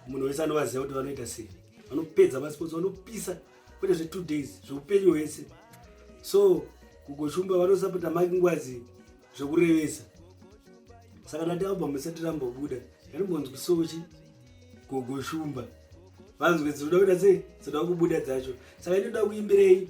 munhu wese anovaziva kuti vanoita sei vanopedza masports vanopisa kwete zve two days zveupenyu hwese so kugoshumba vanosapota maki ngwazi zvekurevesa saka ndati album isati rambobuda yanombonzwi sochi gogoshumba vanzwe dzinoda kuita sei dzinoda kubuda dzacho saka inoda kuimbirei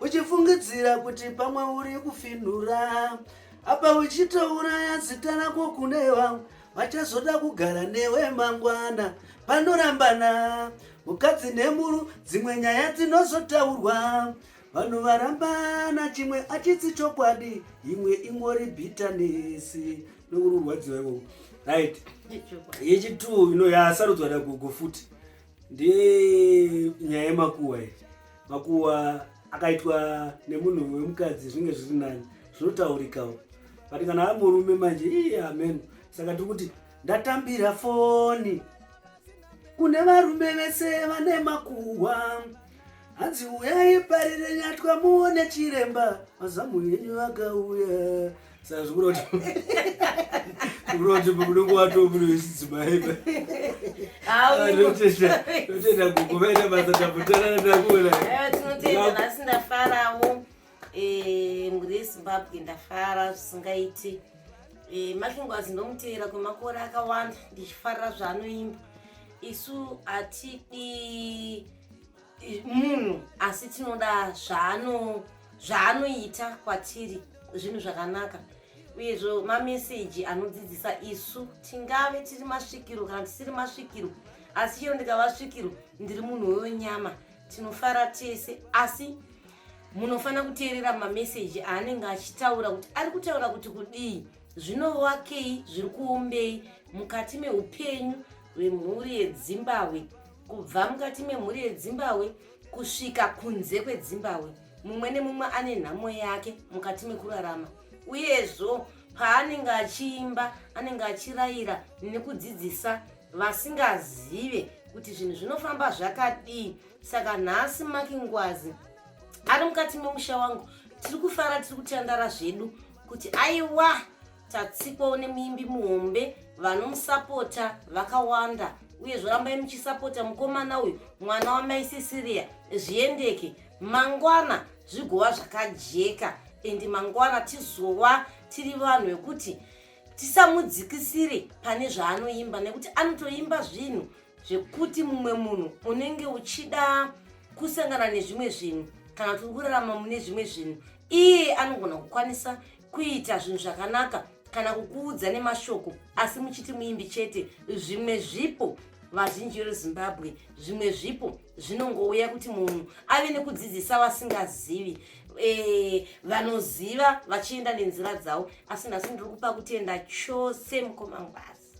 uchifungidzira kuti pamwe uri kufinhura apa uchitouraya zita rako kune vamwe vachazoda kugara newe mangwana panorambana mukadzi nemuru dzimwe nyaya dzinozotaurwa vanhu varambana chimwe achitsi chokwadi imwe ingori bitanesi nokururwadziwa ikoku right yechituwo ino yasarudzwa nagugu futi ndiye nyaya yemakuwa iyi makuwa akaitwa nemunhu wemukadzi zvinge zviri nani zvinotaurikawo but kana ari murume manje ii amen saka tiri kuti ndatambira foni kune varume vese vane makuwa hanzi uyai parire nyatwa muone chiremba mazamu yenyu akauya sazvikuroti kuroti unenge watomunoisidzimaeba totenda kukuvaita basa tapotanana takuona eh, tinotenda nhasi ndafarawo eh, mhuri yezimbabwe ndafara zvisingaiti eh, makingwazi ndomuteera kwemakore akawanda ndichifarira zvaanoimba isu hatidi munhu asi tinoda zvaano zvaanoita kwatiri zvinhu zvakanaka uyezvo mameseji anodzidzisa isu tingave tiri masvikiro kana tisiri masvikiro asi chero ndikava svikiro ndiri munhu wewenyama tinofara tese asi munofanira kuteerera mameseji aanenge achitaura kuti ari kutaura kuti kudii Zvinovakei zviri kuombei mukati meupenyu hwemhuri yedzimbahwe kubva mukati memhuri yedzimbahwe kusvika kunze kwedzimbahwe mumwe nemumwe ane nhamo yake mukati mekurarama uyezvo paanenge achiimba anenge achirayira nekudzidzisa vasingazive kuti zvinhu zvinofamba zvakadii saka nhasi makingwazi ari mukati memusha wangu tiri kufara tiri kutandara zvedu kuti aiwa tatsikwa une muimbi muhombe vanomusapota vakawanda uye zvorambai muchisapota mukomana uyu mwana wamai sisiria zviendeke mangwana zvigova zvakajeka endi mangwana tizova tiri vanhu vekuti tisamudzikisire pane zvaanoimba nekuti anotoimba zvinhu zvekuti mumwe munhu unenge uchida kusangana nezvimwe zvinhu kana kuti kurarama mune zvimwe zvinhu iye anogona kukwanisa kuita zvinhu zvakanaka kana kukuudza nemashoko asi muchiti muimbi chete zvimwe zvipo vazhinji veruzimbabwe zvimwe zvipo zvinongouya kuti munhu ave nekudzidzisa vasingazivi e, vanoziva vachienda nenzira dzavo asi nhasi ndiri kupa kutenda chose mukomangwazi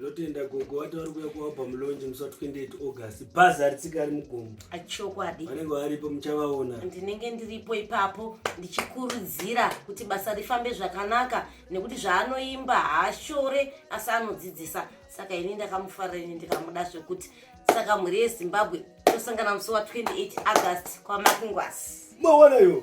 ndotenda gogo vati vari kuya kualbum lonje musi wa 28 august bhazi haritsika ari mugomo achokwadi vanenge varipo muchavaona ndinenge ndiripo ipapo ndichikurudzira kuti basa rifambe zvakanaka nekuti zvaanoimba haashore asi anodzidzisa saka ini ndakamufarira ini ndikamuda zvekuti saka mhuri yezimbabwe tosangana musi wa 28 august kwamakingwasi mawana yo